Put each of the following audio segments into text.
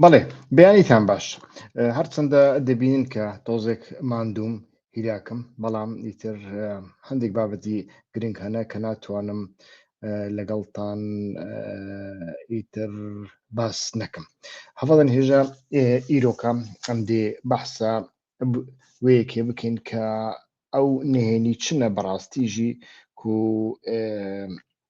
بەڵێ بیانیتان باش هەرچەندە دەبینن کە تۆزێک مادووم هیراکم بەڵام ئیتر هەندێک بابەتی گرنگ هەنە کە ناتوانم لەگەڵتان ئیتر باس نەکەم هەوڵن هێژە ئیرۆکە ئەم دێ بەحسە وەیەکێ بکەین کە ئەو نهێنی چنە بەڕاستیژی و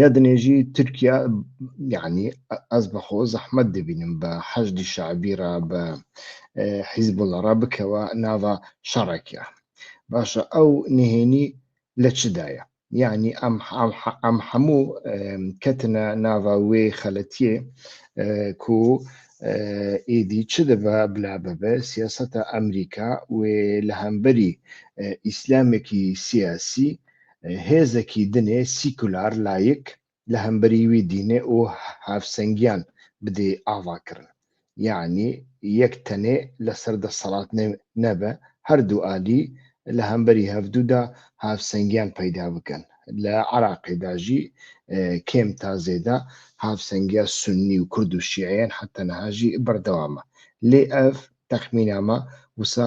یا دنێژی تورکیا یعنی ئەس بەخۆ زەحمەت دەبینم بە حەشدی شعبی را بە حیزب لە ڕا بکەوە ناوە شەڕێکە باشە ئەو نهێنی لە چدایە یعنی ئەم هەموو کەتنە ناوە وێ خەلەتیە کو ئیدی چ دەبە بلا بەبێ سیاستە ئەمریکا وێ لە هەمبەری ئیسلامێکی سیاسی هێزەکی دنێ سیکولار لایک لە هەمبەری وی دینێ ئوو هاوسەنگیان بدێی ئاڤا کرن. یەعنی یەک تەنێ لە سەر دەسەڵات نەبێ هەر دوو ئالی لە هەمبەری هەڤدوو دا هاوسەنگیان پەیدا بکەن. لە عراقێ دا ژی کێم تا زێدە هاوسەنگیا سوننی و کورد و شیعەیان حەتەنەها ژی بەردەوامە. لێ ئەڤ تەخمینامە وسە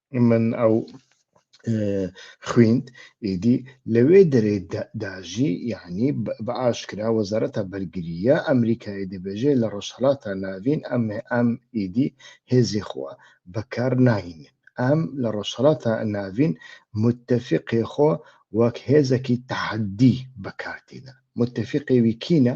من ئەو خویند ئیدی لەوێ دەرێ داژی یعنی بە ئاشکرا وەزارەتە بەرگریە ئەمریکای دەبێژێ لە ڕەشهڵاتە ناوین ئەم ئەم ئیدی هێزی خوا بەکار ناهینێن ئەم لە ڕەشهڵاتە ناوین متتەفقێ خۆ وەک هێزەکی تەحەدی بەکارتیدا متتەفقێوی کینە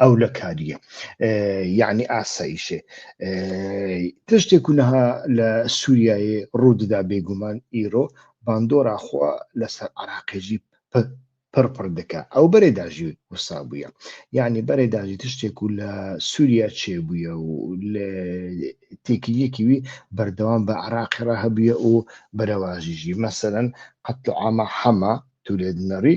ئەو لە کاریە یعنی ئاساییشێ تشتێک و نەها لە سووریایی ڕووددا بێگومان ئیرۆ باندۆرا خوا لەسەر عراقێژی پڕپڕ دەکە ئەو بەرێ داژی وسا بووە یعنی بەرێ داژی تشتێک و لە سووریا چێ بووە و لە تێکیەکی وی بەردەوام بە عراقی ڕە هەبووە و بەرەواژیژی مەسەرەن قەت ئامە حەمە تولێت نەڕی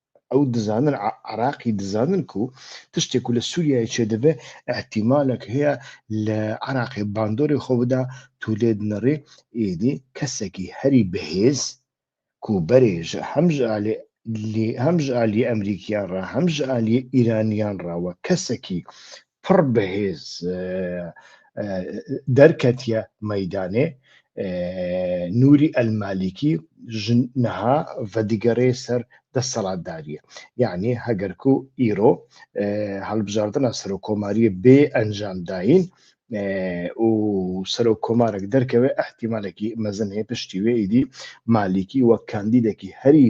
ئەو دزانن عراقی دزانن کو تشتێک و لە سووریای چێ دەبێ ئەحتیمالێک هەیە لە عراقی باندۆری خۆ بدا تو لێ دنەڕی ئیدی کەسێکی هەری بەهێز کو بەرێژ هەمژ ئالێ هەمژ ئالی ئەمریکیان ڕا هەمژ ئالی ئیرانیان ڕاوە کەسێکی پڕ بەهێز دەرکەتیە مەدانێ نوری ئەلمالیکی ژنها ڤدیگەرێ سەر دەسەڵاتداریە یعنی هەگەرکو ئیرۆ هەڵبژاردنە سەرۆ کۆماریە بێ ئەنجام داین و سەرۆک کۆمارێک دەرکەوێ ئەحتیمالێکی مەزن هەیە پشتی وێ ئیدی مالیکی وەک کاندیدێکی هەری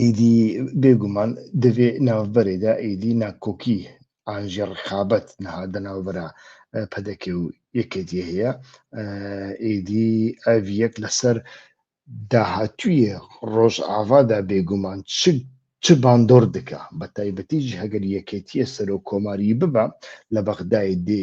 ئیدی بێگومان دەبێ ناوبەرێدا ئیدی ناکۆکی ئاژێ ڕخابەت نەهادە ناوبەرە پەدەکێ و یەکێتی هەیە ئیدی ئەڤ یەک لەسەر داهاتویە ڕۆژ ئاوادا بێگومان چ چ باندۆر دکە بە تایبەتیش هەگەر یەکێتیە سەرۆ کۆماری ببە لە بەغدای دێ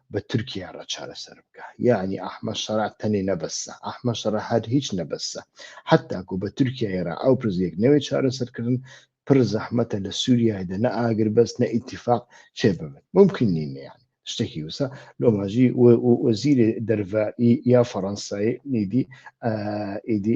بە تورکیا رە چارەسەر بکا یەعنی ئەحمەد شەرع تەنێ نەبەسە ئەحمەد شەرع هەر هیچ نەبەسە حەتاکو بە تورکیای رە ئەو پرزێک نەوێ چارەسەر کردن پر زەحمەتە لە سوریای دە نە ئاگر بەس نە ئیتیفاق چێ ببن مومکین نین یەعنی شتەکی وسە لۆماژی وەزیرێ دەرڤە ی یا فەرەنسای ئیدی ئیدی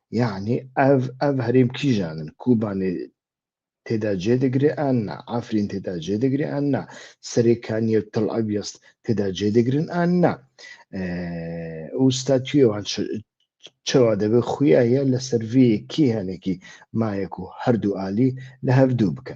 یەعنی ئەڤ ئەڤ هەرێم کیژانن کوبانێ تێدا جێ دەگرێ ئان نا ئافرین تێدا جێ دەگرێ ئان نا سەرێ کانیە و تڵ ئەویەست تێدا جێ دەگرن ئان نا ئوستاتویەوان چەوا دەبێت خویایە لە سەرڤەیەکی هەنێکی مایەک و هەردوو عالی لە هەردوو بکە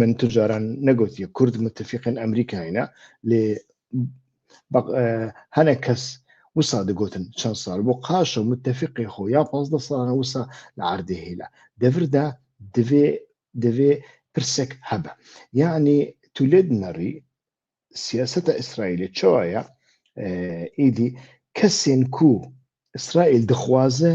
من تجاران نەگوتیە کورد متفقن ئەمریکاینا لێ هەنە کەس وسا دەگوتن چەند سال بۆ قاشە متفقی خۆ یا پازدە ساڵانە وسا لە عردێ هیلا دەوردا دەوێ دەوێ پرسێک هەبە یعنی تو لێت نەڕی سیاستە ئیسرائیلی چۆایە ئیدی کەسێن کو ئیسرائیل دخوازە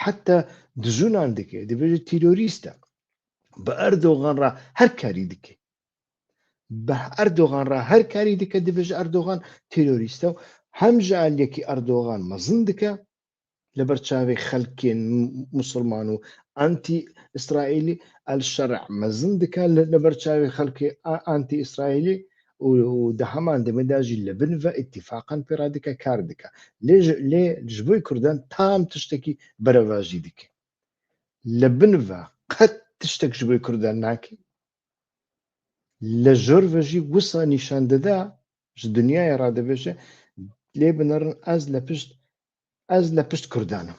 حتا دزونان دکێ دەبێت تیرۆریستە بە ئەردۆغان ڕ هەر کاری دکێ بە ئەردۆغان ڕ هەر کاری دکە دەبێژ ئەردۆغان تیرۆریستە و هەم ژالێکی ئەردۆغان مەزن دکە لە بەرچاوی خەلکێن مسلمان و ئەتی ئیسرائیلی ئەل شەرع مەزن دکە لە بەرچاوی خەلکی ئەتی ئیسرائیلی و دە هەمان دەمێ دا ژی لە بن ڤە ئیتیفاقان پێ ڕا دکە کار دکە. لێ ژ لێ ژ بۆی کوردان تام تشتەکی بەرە ڤا ژی دکەی. لە بن ڤە قەت تشتەک ژ بۆی کوردان ناکەی. لە ژۆر ڤە ژی وسا نیشان دەدا ژ دنیایە ڕا دەبێژێ لێ بنەڕن ئەز لە پشت ئەز لە پشت کوردانم.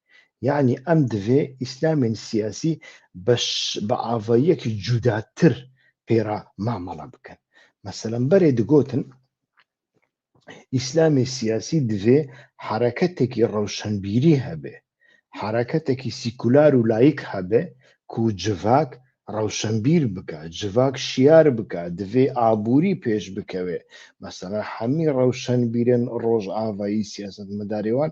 یەعنی ئەم دڤێ ئیسلامێن سیاسی بە ئاڤاییەکی جوداتر پێرا مامەڵە بکەن مەسەلەن بەرێ دگۆتن ئیسلامی سیاسی دەێ حرەکەتێکی ڕەوشەنبیری هەبێ حرەکەتێکی سیکولار و لایک هەبێ کو جڤاک ڕەوشەنبیر بکە جڤاک شیار بکە دەێ ئابووری پێش بکەوێ مەسەرە حەمی ڕەوشەنبیرن ڕۆژ ئاوایی سیاست مەدارێوان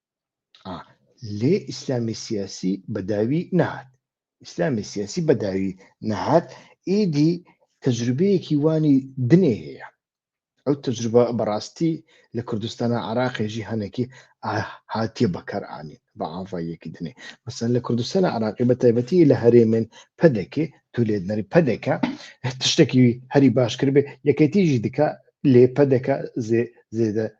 لێ ئیسلامی سیاسی بەداوی نهات ئیسلامی سیاسی بەداوی نهات ئیدی تەجروبەیەکی وانی دنێ هەیە ئەو تەجروبە بەڕاستی لە کوردستانە عراقێژی هەنێکی هاتیە بەکارانی بە ئاڤاییەکی دنێ مەسەن لە کوردستانە عراقی بە تایبەتی لە هەرێمێن پەدەکێ تو لێدنەری پەدەکە تشتێکی هەری باشکرد بێ یەکێتیژی دکە لێ پەدەکە زێدە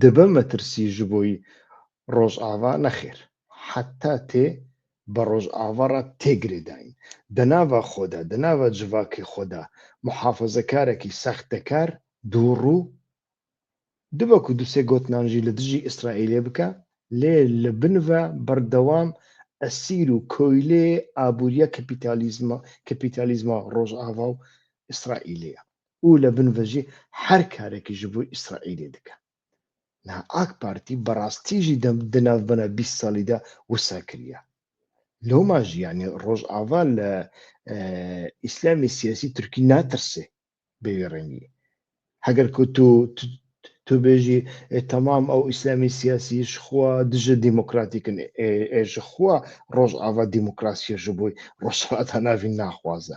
دبە مەترسی ژ بۆی ڕۆژاڤا نەخێر حەتا تێ بە ڕۆژاڤا ڕا تێگرێ داین دە ناڤا خۆدا دە ناڤا جڤاکێ خۆدا موحافەزەکارەکی ساختەکار دوو ڕوو دبە کو دو سێ گۆتنان ژی لە دژی ئیسرائیلێ بکا لێ لە بنڤە بەردەوام ئەسیر و کۆیلێ ئابووریە کەپیتالیزمە کەپیتالیزما ڕۆژاڤا و ئیسرائیلێە ئو لە بن ڤژی هەر کارێکی ژ بوی ئیسرائیلی دکە. نا ئاک پارتی بە ڕاستی ژی دە دە ناڤ بەنە بیس سالی دا وسا کریا. لۆما ژی یانی ڕۆژ ئاڤا لە ئیسلامی سیاسی ترکی ناترسێ بە وی ڕەنگی. هەگەر کە تو تو بێژی تەمام ئەو ئیسلامی سیاسی ژ خوا دژە دیمۆکراتیکن ئێ ئێ ژ خوا ڕۆژ ئاڤا دیمۆکراسی ژ بوی ڕۆژ ئاڤا تا ناڤین ناخوازە.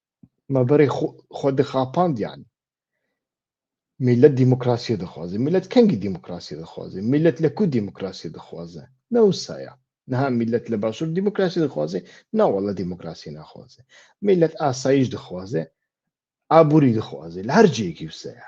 مەبەڕی خۆ دەخاپاندیان میلەت دیموکراسی دەخوازی میلەت کەنگی دیموکراسی دەخوازی میلەت لە کو دیموکراسی دەخوازە نەوسایە نها میلەت لە باشوور دیموکراسی دەخوازێ ناوە لە دیموکراسی ناخوازێ میلەت ئاسایش دەخوازێ ئابووری دەخوازێ لە هەر جێکی وسەیە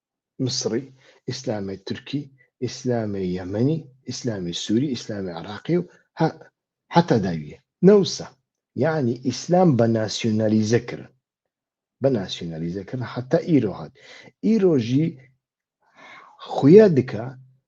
میسری، ئیسلامی تورکی، ئیسلامی یەمەنی، ئیسلامی سوری، ئیسلامی عراقی و. حتی داویە. نەوسە. یەعنی ئیسلام بە ناسیونالیزە کرن. بە ناسیونالیزە کرن حتی ئیرۆ هات. ئیرۆژی خویە دکە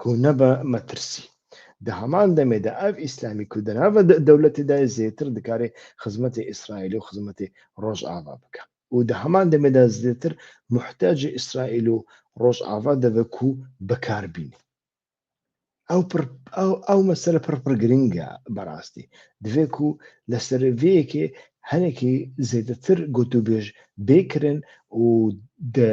کو نەبە مەترسی. دە هەمان دەمێدا ئەڤ ئیسلامی کو دەناڤە دە دەولەتێدا یە زێتر دکارێ خزمەتێ ئیسرائیل و خزمەتێ رۆژاڤا بکە و دە هەمان دەمێدا زێتر موحتاجێ ئیسرائیل و رۆژاڤا دەڤە کو بە کار بینێ. ئەو پر ئەو ئەو مەسەلە پر پر گرنگە بەراستی. دڤێ کو لە سەر ڤیەکێ هەنێکی زێدەتر گوتوبێژ بێکرن و دە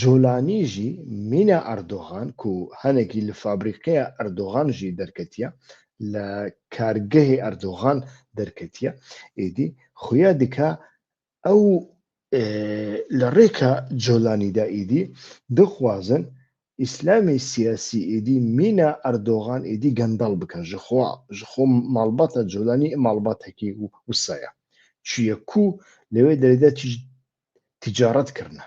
جۆلانی ژی مینا ئەردۆغان کو هەنەکی لە فابریقەێ ئەردۆغان ژی دەرکەتیە، لە کارگەێ ئەردۆغان دەرکەتیە، ئیدی خویا دکا ئەو لە رێکا جۆلانی دا ئیدی دخوازن ئیسلامی سیاسی ئیدی مینا ئەردۆغان ئیدی گەندەڵ بکەن ژ خوا ژ خۆ ماڵباتە جۆلانی ئە ماڵباتەکی وسایە چویە کو لەێ دەرێدا تیجارەت کردنە.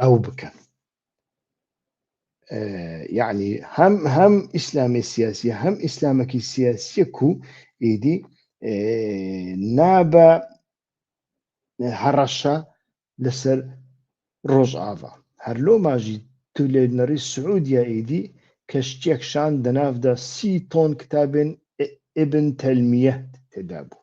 ئەو بکەن یعنی هەم هەم ئیسلامی سیاسیە هەم ئیسلامەکی سیاسیە کو ئیدی نابە هەڕەشە لەسەر ڕۆژ ئاوا هەر لۆ ماژی تو لێ نەڕی سعودیا ئیدی کەشتێکشان دەناافدا سی تۆن کتابێن ئبن تەلمیە تێدا بوو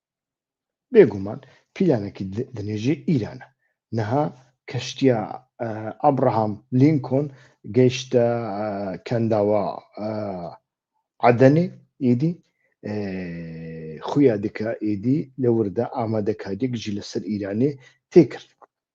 بێگومان پیلانەکی دنێژی ئیرانە نەها کەشتیا ئەبراهام لینکۆن گەیشتە کەنداوە عدنی ئیدی خویا دکە ئیدی لە وردە ئامادەکاریەک جی لەسەر ئیرانێ تێکرد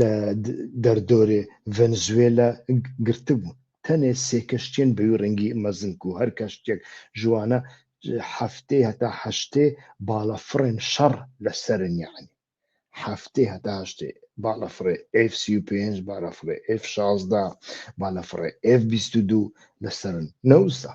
لە دەردۆرێ ڤەنزوێلا گرتبوون تەنێ سێ کەشتیەن بەوی ڕەنگی مەزنک و هەر کەشتێک ژوانە هەفتەی هەتا هەشتێ باڵە فڕێن شەڕ لە سەرن یەعنی هەفتەی هەتا هەشتێ باڵە فڕێ ئێف سی و پێنج باە فڕێ ئێف شازدە باە فڕێ ئێف بیست و دوو لە سەرن نەوزە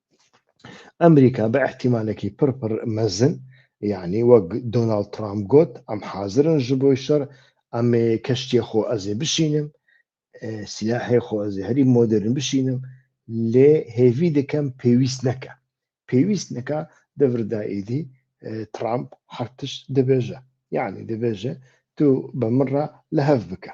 ئەمریکا بە ئیحتیمالێکی پڕ پڕ مەزن یعنی وەک دۆناڵد ترامپ گۆت ئەم حازرن ژ بۆی شەڕ ئەمێ کەشتیە خۆ ئەزێ بشینم سیلاحێ خۆ ئەزێ هەری مۆدرن بشینم لێ هێوی دەکەم پێویست نەکە پێویست نەکە دەوردا ئیدی ترامپ هەرتش دەبێژە یعنی دەبێژە تو بە مڕە لە هەف بکە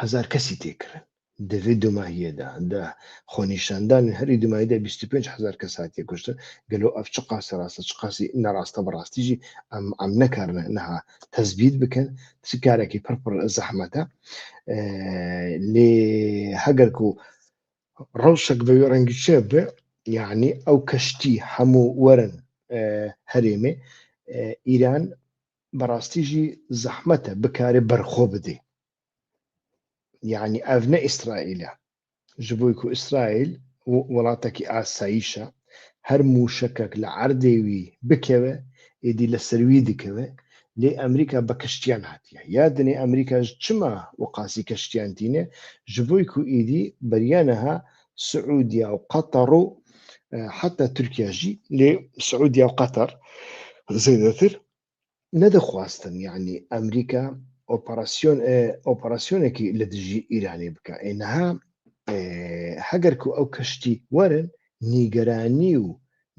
هەزار کەسی تێ کرن دڤ دوماهیە دا دە خۆ نیشان دان هەری دومای دە بیست و پێنج هەزار کەس هاتیە کوشتن گەلۆ ئەڤ چ قاسە ڕاستە چ قاسی نەڕاستە بە ڕاستیژی ئەم ئەم نەکار نە نەها تەزبیت بکەن چ کارەکی پڕ پڕ زەحمەتە لێ هەگەر کو ڕەوشەک بەوێ ڕەنگی چێ بێ یعنی ئەو کەشتی هەموو وەرن هەرێمێ ئیران بەڕاستیژی زەحمەتە بکارێ بەرخۆ بدەی یعنی ئەڤ نە ئیسرائیلە ji بۆی کو ئیسرائیل وڵاتەکی ئاساییشە هەر مووشەکەک لە عەردێ وی بکەوێ ئیدی لە سەروی دکەوێ لێ ئەمریکا بە کەشتیان هاتیە یادنێ ئەمریکاش چما وقاسی کەشتیان تینێ ji بۆی کو ئیدی بەریانەها سعودیا و قەتەڕ و حتا تورکیاژی لێ سعودیا و قەتەر زێدەتر نەدەخواستن یەعنی ئەمریکا ئۆپەڕاسیۆن ئۆپەڕاسیۆنێکی لە دژی ئیرانی بکە ئێنەها هەگەرکو ئەو کەشتی وەرن نیگەرانی و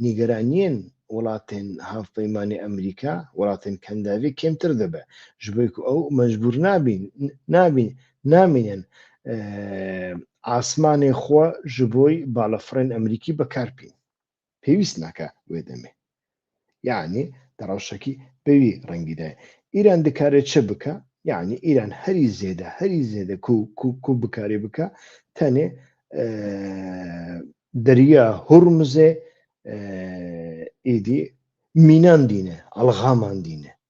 نیگەرانیان وڵاتێن هاوپەیمانی ئەمریکا وڵاتێن کەنداوی کێمتر دەبێ ji بۆی کو ئەو مەجبور نابین نابین نامینن ئاسمانێ خۆ ji بۆی باڵەفڕێن ئەمریکی بەکارپین پێویست ناکا وێ دەمێ یعنی دەڕەوشەکی بەوی ڕەنگیدا ئیران دکارێت چ بکە یعنی ئیران هەری زێدە هەری زێدە کو بکارێ بکە تەنێ دەریا هورمزێ ئیدی مینان دینە ئەلغامان دینە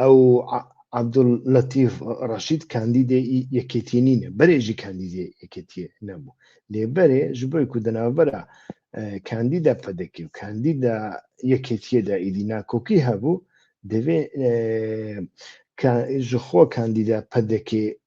ئەو عەبدول لەتیف ڕەشید کاندیدێ ئی یەکێتی نینە بەرێ ژی کاندیدێ یەکێتیە نەبوو لێ بەرێ ژ بۆی کو دەناوبەرە کاندیدا پەدەکی و کاندیدا یەکێتیەدا ئیدی ناکۆکی هەبوو دەبێ کە ژ خۆ کاندیدا پەدەکێ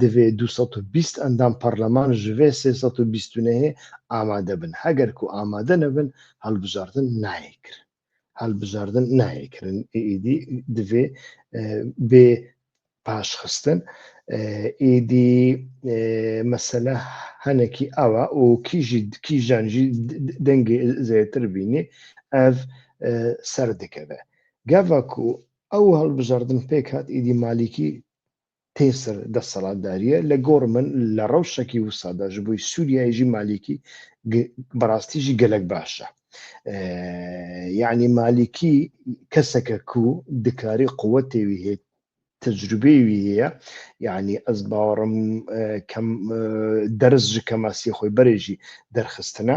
دڤێ دوو سەد و بیست ئەندام پەڕلەمان ژڤێ سێ سەد و بیست تونەێ ئامادە بن، هەگەر کو ئامادە نەبن هەڵبژاردن ناێ کرن. هەڵبژاردن ناێ کرن ئیدی دڤێ بێ پاشخستن ئیدی مەسەلە هەنەکی ئاوا و کیژی کیژانژی دەنگی زێتر بینی ئەڤ سەر دکەێ. گەڤک و ئەو هەڵبژاردن پێکات ئیدی مالیکی تێر سەر دەسەڵاتداریە لە گۆڕ من لە ڕەو شەکی وسادا ژ بووی سووریایژی مالیکی بەڕاستیژی گەلک باشە یعنی مالیکی کەسەکە کو دکاری قووە تێوی هێت تەجروبێوی هەیە یعنی ئەس باوەڕم کەم دەرز ژ کەماسی خۆی بەرێژی دەرخستنە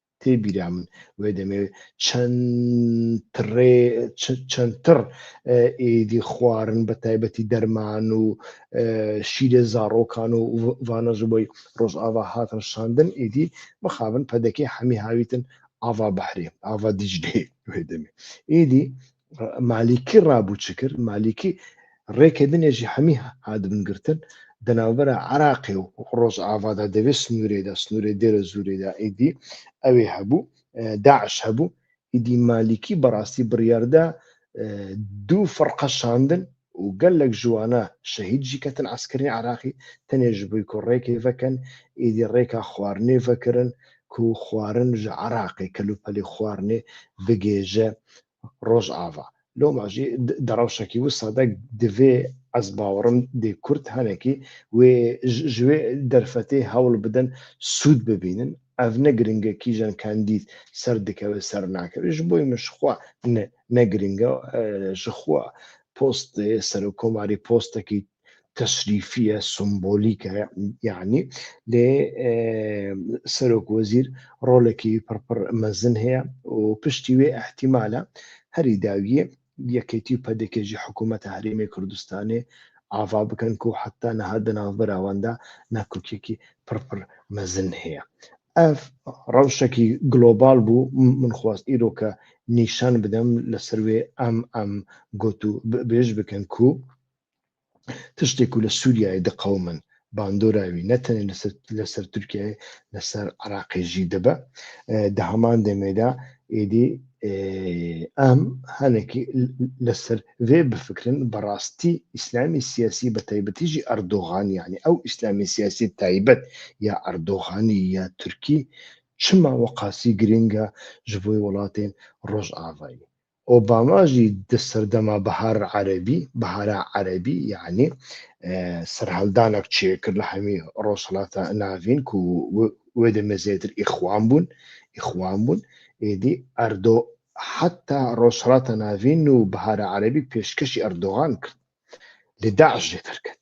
تێ بیرا من وێ دەمەوێت چەندتر ئیدی خوارن بە تایبەتی دەرمان و شیرە زاڕۆکان و وانەژ بۆی ڕۆژئاوا هاتن شاندن ئیدی مەخابن پەدەکەی حەمی هاویتن ئاوا بەحرێ ئاوا دیجلێ وێ دەمێ ئیدی مالیکی ڕابوو چ کرد مالیکی ڕێکە بنێژی هەمی هادبن گرتن دەناوبەرە عراقێ و ڕۆژ ئاوادا دەوێت سنوورێدا سنوورێ دێرە زورێدا ئیدی ئەوێ هەبوو داعش هەبوو ئیدی مالیکی بەڕاستی بڕیاردا دوو فڕقە شاندن و گە لک ژوانە شەهید ژی کە تن عەسکەرین عراقی تە نێ ژ بوی کو ڕێکەی ڤە کەن ئیدی ڕێکا خوارنێ ڤە کرن کو خوارن ژە عراقێ کە لو پە لی خوارنێ بگێ ژە ڕۆژ ئاڤا لۆ ما ژی دە ڕەوشە کی وسا دە دڤێ ئەز باوەڕم دێ کورد هە نە کی وێ ژ وێ دەرفەتێ هە وڵ بدن سوود ببینن ئەڤ نە گرنگە کیژەن کاندید سەر دکە وێ سەر ناکە وێ ژ بۆی مە ژ خوا نە نە گرنگە ژ خوا پۆست سەرۆک کۆماری پۆستە کی تەشریفیە سمبولیکە یعنی لێ سەرۆک وەزیر ڕۆلەکی پڕپڕ مەزن هەیە و پشتی وێ ئەحتیمالە هەری داویە یەکێتی و پەدەکێژی حکوومەتە هەرێمی کوردستانێ ئاڤا بکەن کو حەتتا نەها دە ناوبراواندا ناکوکیەکی پڕ پڕ مەزن هەیە. ئەڤ ڕەوشەکی گلۆباڵ بوو من خواست ئیرۆ کە نیشان بدەم لە سەروێ ئەم ئەم گۆت و بێژ بکەن کو، تشتێک و لە سووریای دەقەومن باندۆراوی نەتەنێ لەسەر تورکیای لەسەر عراقێژی دەبە دە هەمان دەمێدا ئێدی ئەم هەنێکی لەسەر وێ بفکرن بەڕاستی ئیسلامی سیاسی بە تایبەتیژی ئەردۆغانیانی ئەو ئیسلامی سیاسی تایبەت یا ئەردۆغانی یا تورکی چما وەقاسی گرنگە ژبۆی وڵاتێن ڕۆژ ئاوایی ئۆباما ژی دە سەردەما بەهار عەرەبی، بهارا عربی، یەعنی سەرهەلدانەک چێ کرد لە هەمی ڕۆژهەڵاتە ناڤین کو وێدە مێزێتر ئیخوان بوون ئیخوان بوون ئێدی ئەردۆ حتا ڕۆژهەڵاتە ناڤین و بهارا عەرەبی پێشکەشی ئەردۆغان کرد لە داعش جێتر کرد